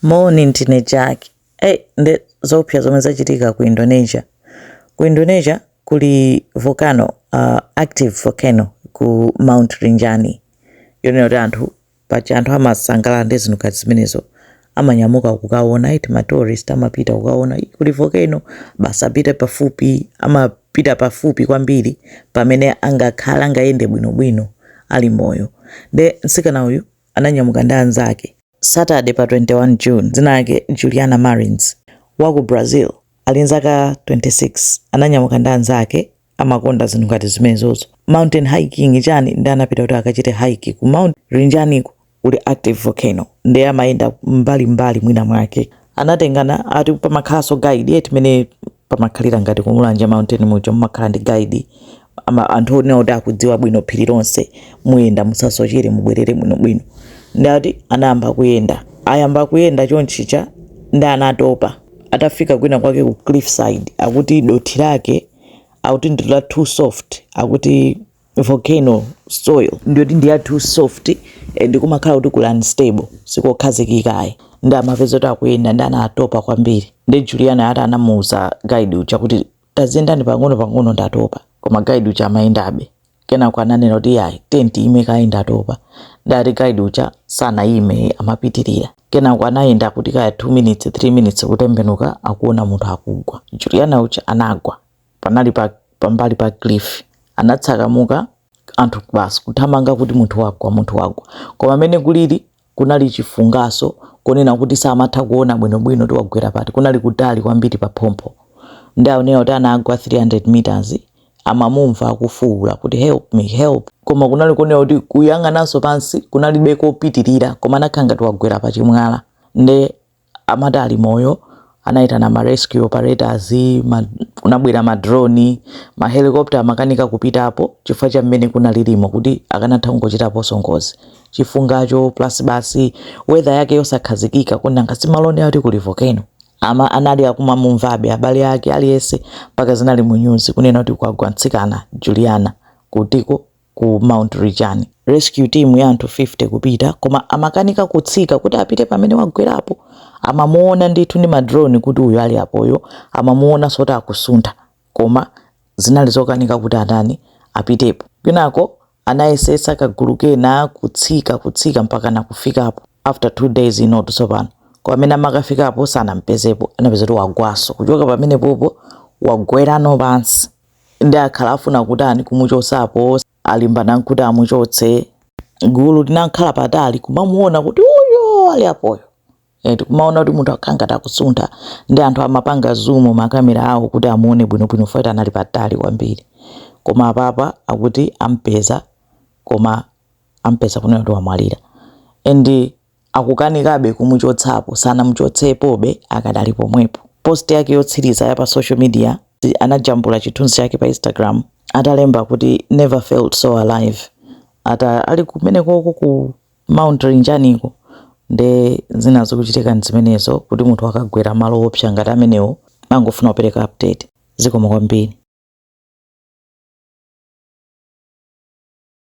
Moni ndine Jack. Ei nde zoopsa zomwe zachitika ku Indonesia. Ku Indonesia kuli volcano, uh, active volcano ku Mount Rinjani. Yonena kuti anthu paja anthu amasangalala ndi zinthu ngati zimenezo amanyamuka kukaona eti ma tourist amapita kukaona "Ih, kuli volcano basi apite pafupi amapita pafupi kwambiri pamene angakhale angayende bwinobwino ali moyo. Nde mtsikana uyu ananyamuka ndi anzake Saturday pa 21 June, dzina lake Juliana Marins, wa ku Brazil, ali ndi zaka 26, ananyamuka ndi anzake amakonda zinthu ngati zimenezozo mountain hiking chani ndi anapita kuti akachite hike ku mount rinjaniko kuli active volcano ndi amayenda mbalimbali mwina mwake anatengana ati pamakhalanso guide eti mmene pamakhalira ngati ku Mulanje mountain muja mumakhala ndi guide ama anthu onena kuti akudziwa bwino phiri lonse muyenda musasochere mubwerere bwinobwino nde ati anayamba kuyenda ayamba kuyenda chonchija nde anatopa atafika kwina kwake ku cliffside akuti dothi lake akuti ndi la too soft akuti volcano soil ndiyoti ndi ya too soft and kumakhala kuti kuli unstable sikokhazikika ayi ndi amapeza kuti akuyenda nde anatopa kwambiri ndi juliana ati anamuuza guide uja kuti taziyendani pang'ono pang'ono ndatopa koma guide uja amayendabe kenako ananena kuti yayi tatiyeni tiime kaye ndatopa nde ati guide uja sanaime amapitirira kenako anayenda kuti kaya 2 minutes 3 minutes kutembenuka akuona munthu akugwa juliana uja anagwa panali pambali pa cliff anatsakamuka anthu basi kuthamanga kuti munthu wagwa munthu wagwa koma mmene kulili kunali chifunganso konena kuti samatha kuona bwinobwino kuti wagwera pati kunali kutali kwambiri pa phompho nde akunena kuti anagwa 300 meters amamumva akufuula kuti help me help koma kunali konena kuti kuyang'ananso pansi kunalibe kopitirira koma anakhala ngati wagwera pa chimwala nde amati ali moyo anaitana ma rescue operators ma, kunabwera ma drone ma helicopter amakanika kupitapo chifukwa cha mmene kunalilimo kuti akanatha kungochitaponso ngozi chifungacho plus basi weather yake yosakhazikika nanga si malo oti kuli volcano ama anali akumamumvabe abale ake aliyense mpaka zinali mu news kunena kuti kwagwa mtsikana Juliana kutiko ku Mount Rinjani. Rescue team ya anthu 50 kupita koma amakanika kutsika kuti apite pamene wagwerapo. Amamuona ndithu ndi madrone kuti uyu ali apoyo, amamuonanso kuti akusuntha koma zinali zokanika kuti atani apitepo. Kenako anayesetsa kagulu kena kutsika kutsika mpaka nakufikapo after two days inotu tsopano koma mmene amakafikapo sanampezepo anapeza kuti wagwanso kuchoka pamene popo wagwerano pansi ndiye akhala akufuna kutani kumuchosapo alimbana nazo kuti amuchotse gulu linakhala patali kumamuona kuti uyo ali apoyo eti kumaona kuti munthu akukhala ngati akusuntha ndi anthu amapanga zumu makamera awo kuti amuone bwinobwino poti anali patali kwambiri koma apapa akuti ampeza koma ampeza kunena kuti wamwalira and akukanikabe kumuchotsapo sanamuchotsepobe akadali pomwepo. Post yake yotsiliza ya pa social media anajambula chithunzi chake pa Instagram atalemba kuti never felt so alive ata ali kumenekoko ku Mount Rinjaniko nde zina zikuchitika nzimenezo kuti munthu akagwera malo oopsa ngati amenewo nangofuna kupereka update zikomo kwambiri.